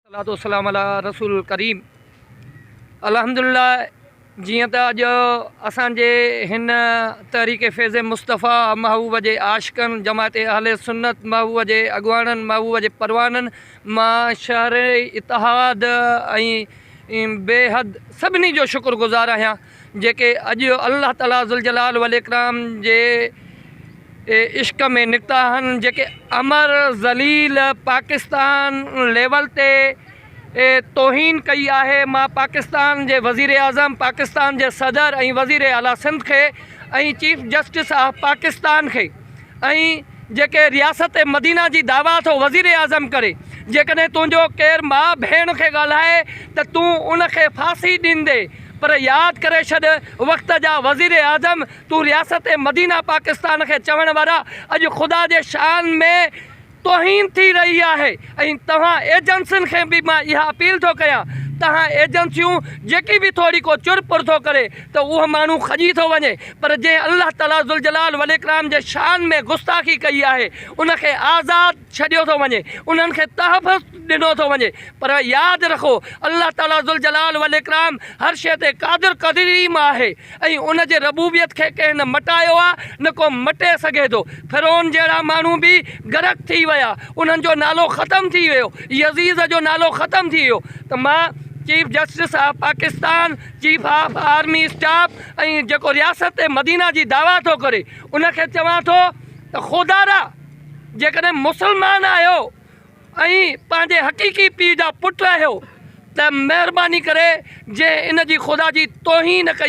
الصلوة والسلام علي رسول الڪريم الحمدلله جيئن ته اڄ اسان جي هن تحريڪ فيض مصطفيٰ محبوب جي عاشقن جماعت اهل سنت محبوب جي اڳواڻن محبوب جي پروانن مان شهر اتحاد ۽ بيحد سڀني جو شڪر گذار آهيان جيڪي اڄ الله تعالي ذوالجلال والاڪرام جي عشق ۾ نڪتا آهن جيڪي امر ذليل پاڪستان ليول تي توهين ڪئي آهي مان پاڪستان جي وزيراعظم پاڪستان جي صدر ۽ وزير اعليٰ سنڌ کي ۽ چيف جسٽس آف پاڪستان کي ۽ جيڪي رياست مدينه جي دعويٰ ٿو وزير اعظم ڪري، جيڪڏهن تنهنجو ڪير ماء ڀيڻ کي ڳالهائي ته تون ان کي ڦاسي ڏيندي، پر ياد ڪري ڇڏ وقت جا وزير اعظم تون رياست مدينه پاڪستان کي چوڻ وارا اڄ خدا جي شان ۾ توهين ٿي رهي آهي ۽ توهان ايجنسين کي به مان اها اپيل ٿو ڪيان توهان ايجنسيون جيڪي به ٿوري ڪو چر پر ٿو ڪري ته اهو ماڻهو کڄي ٿو وڃي پر جنهن الله تعالي ذوالجلال والاڪرام جي شان ۾ گستاخي ڪئي آهي ان کي آزاد ڇڏيو ٿو وڃي انهن کي تحفظ ڏنو ٿو وڃي پر ياد رکو الله تعالي ذوالجلال والاڪرام هر شيء تي قادر قديم آهي. ۽ ان جي ربوبيت کي ڪنهن نه مٽايو آ نه ڪو مٽي سگهي ٿو. فرعون جهڙا ماڻهو به غرق ٿي ويا، انهن جو نالو ختم ٿي ويو، يزيد جو نالو ختم ٿي ويو ته مان chief justice of Pakistan, chief of army staff ۽ جيڪو رياست مدينه جي دعويٰ ٿو ڪري ان کي چوان ٿو ته خودارا جيڪڏهن مسلمان آهيو ۽ پنهنجي حقيقي پيء جا پٽ آهيو ته مهرباني ڪري جنهن ان جي خدا جي توهين ڪئي